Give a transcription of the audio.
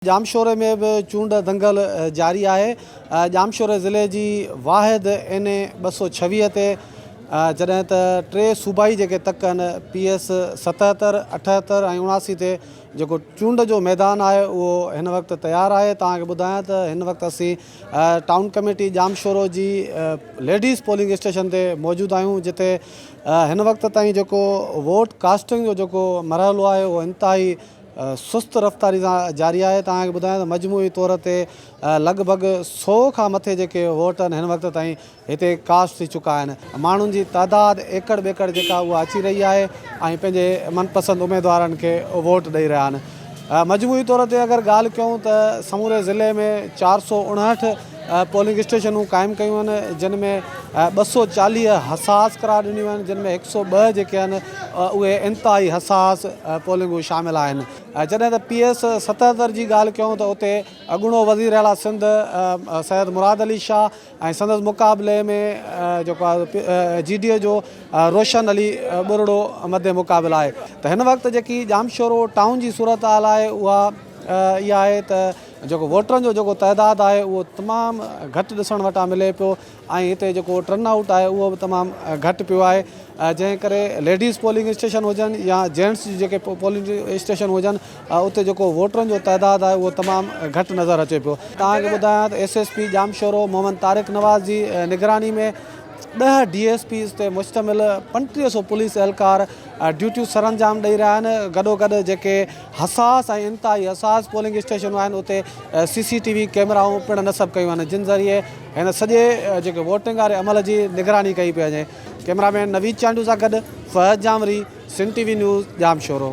ڄامشوري ۾ به چونڊ دنگل جاري آهي، ڄامشوري ضلعي جي واحد اين اي ٻه سؤ ڇويهه تي جڏهن ته ٽي صوبائي جيڪي تڪ آهن پي ايس ستهتر، اٺهتر ۽ اڻاسي تي جيڪو چونڊ جو ميدان آهي اهو هن وقت تيار آهي، توهان کي ٻڌايان ته هن وقت اسين ٽائون ڪميٽي ڄامشورو جي ليڊيز پولنگ اسٽيشن تي موجود آهيون جتي هن وقت تائين جيڪو ووٽ ڪاسٽنگ جو جيڪو مرحلو آهي اهو انتهائي سست رفتاري سان جاري آهي توهان کي ٻڌايان ته مجموعي طور تي لڳ ڀڳ سؤ کان مٿي جيڪي ووٽ هن وقت تائين هتي ڪاسٽ ٿي چڪا آهن ماڻهن جي تعداد ايڪڙ ٻيڪڙ جيڪا اها اچي رهي آهي ۽ پنهنجي من پسند اميدوارن کي ووٽ ڏئي رهيا آهن مجموعي طور تي اگر ڳالهه ڪيون ته سموري ضلعي ۾ چار سؤ اڻهٺ پولنگ اسٽيشنون قائم ڪيون آهن جن ۾ ٻه سؤ چاليهه حساس قرار ڏنيون آهن جن ۾ هڪ سؤ ٻه جيڪي آهن اهي انتهائي حساس پولنگون شامل آهن جڏهن ته پي ايس ستهتر جي ڳالهه ڪيون ته اتي اڳوڻو وزير اعليٰ سنڌ سيد مراد علي شاهه ۽ سندس مقابلي ۾ جيڪو آهي جي ڊي اي جو روشن علي ٻرڙو مد مقابل آهي ته هن وقت جيڪي ڄامشورو ٽائون جي صورتحال آهي اها اها آهي ته جيڪو ووٽرن جو جيڪو تعداد آهي اهو تمام گهٽ ڏسڻ وٽان ملي پيو ۽ هتي جيڪو ٽرن آئوٽ آهي اهو به تمام گهٽ پيو آهي جنهن ڪري ليڊيز پولنگ اسٽيشن هجن يا جينٽس جي جيڪي پولنگ اسٽيشن هجن اتي جيڪو ووٽرن جو تعداد آهي اهو تمام گهٽ نظر اچي پيو توهان کي ٻڌايان ته S S P Jamshoro Muhammad Tariq Nawaz جي نگراني ۾ ڏهه ڊي ايس پيز تي مشتمل پنٽيهه سو پوليس اهلڪار ڊيوٽيون سرانجام ڏئي رهيا آهن گڏوگڏ جيڪي حساس ۽ انتهائي حساس پولنگ اسٽيشنون آهن اتي سي سي ٽي وي ڪيمرائون پڻ نصب ڪيون وڃن جن ذريعي هن سڄي جيڪي ووٽنگ واري عمل جي نگراني ڪئي پئي وڃي ڪيمرا مين نويد چانڊيو سان گڏ Fahad Janwari Sindh T V news Jamshoro.